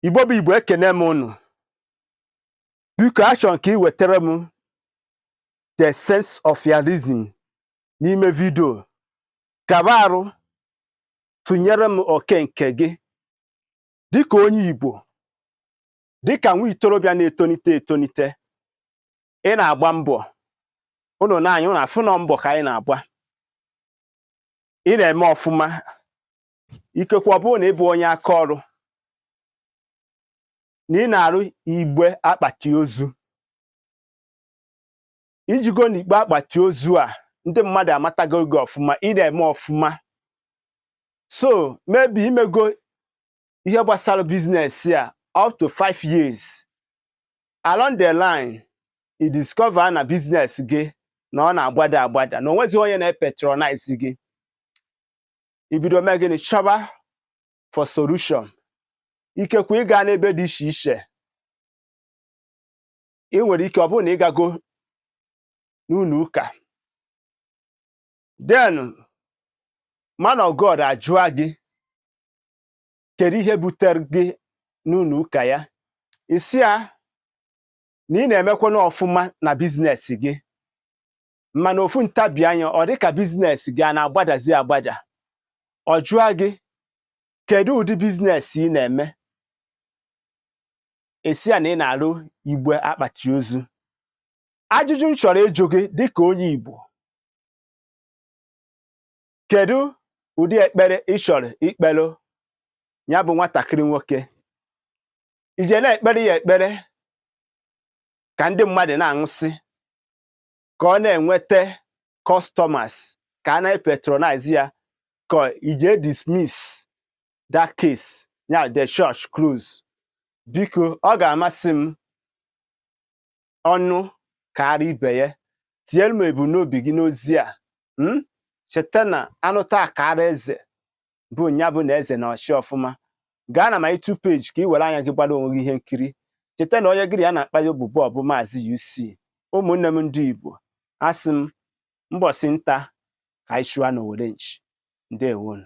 igbo bụ igbo ekene m unu biko achọ m ka ị wetara m the sense of realism n'ime vidio kaba arụ tụnyere m oke nke gị dịka onye igbo dịka nwa itorobịa na-etonite etonite ị na-agba mbọ ụnụ nee anyị ụnụ afụ na ọ mbọ ka anyị na-agba ị na-eme ọfụma ikekwe ọ bụrụ na ị bụ onye aka ọrụ na ị na-arụ igbe akpati ozu i jigo na igbe akpati ozu a ndị mmadụ amatago gị ọfụma ị na-eme ọfụma so maybe i mego ihe gbasara biznes a up to five years along the line i discover na biznes gị na ọ na-agbada agbada na onwezi onye na-epatronize gị i bido mee gịnị chọba for solution ikekwe ị gaa n'ebe dị iche iche ị nwere ike ọ bụrụ na ị gago n'ụlọ ụka then man of God ajụa gị kedu ihe butere gị n'ụlọ ụka ya ị sị ya na ị na-emekwanụ ọfụma na biznes gị mana ofu ntabi anya ọ dị ka biznes gị a na-agbadazi agbada ọ jụa gị kedu ụdị biznes ị na-eme ị sị ya na ị na-arụ igbe akpati ozu ajụjụ m chọrọ ịjụ gị dịka onye Igbo kedu ụdị ekpere ị chọrọ ikpere ya bụ nwatakịrị nwoke i je na-ekpere ya ekpere ka ndị mmadụ na-anwụsị ka ọ na-enweta customers ka a na-epatronize ya ka i je dismiss that case ya the church close biko ọ ga-amasị m ọnụ kaara ibe ya tinyere m ebumnobi gị n'ozi a hmm? cheta na a nụta a kaara eze bụ nya bụ na eze na-achị ọfụma gaa na my YouTube page ka ị were anya gị gbara onwe gị ihe nkiri cheta na onye gị na ya na-akpa ya bụ ubu ọ bụ maazị UC ụmụnne m ndị Igbo asị m mbọsị nta ka anyị chụa n'owere nchi ndewonu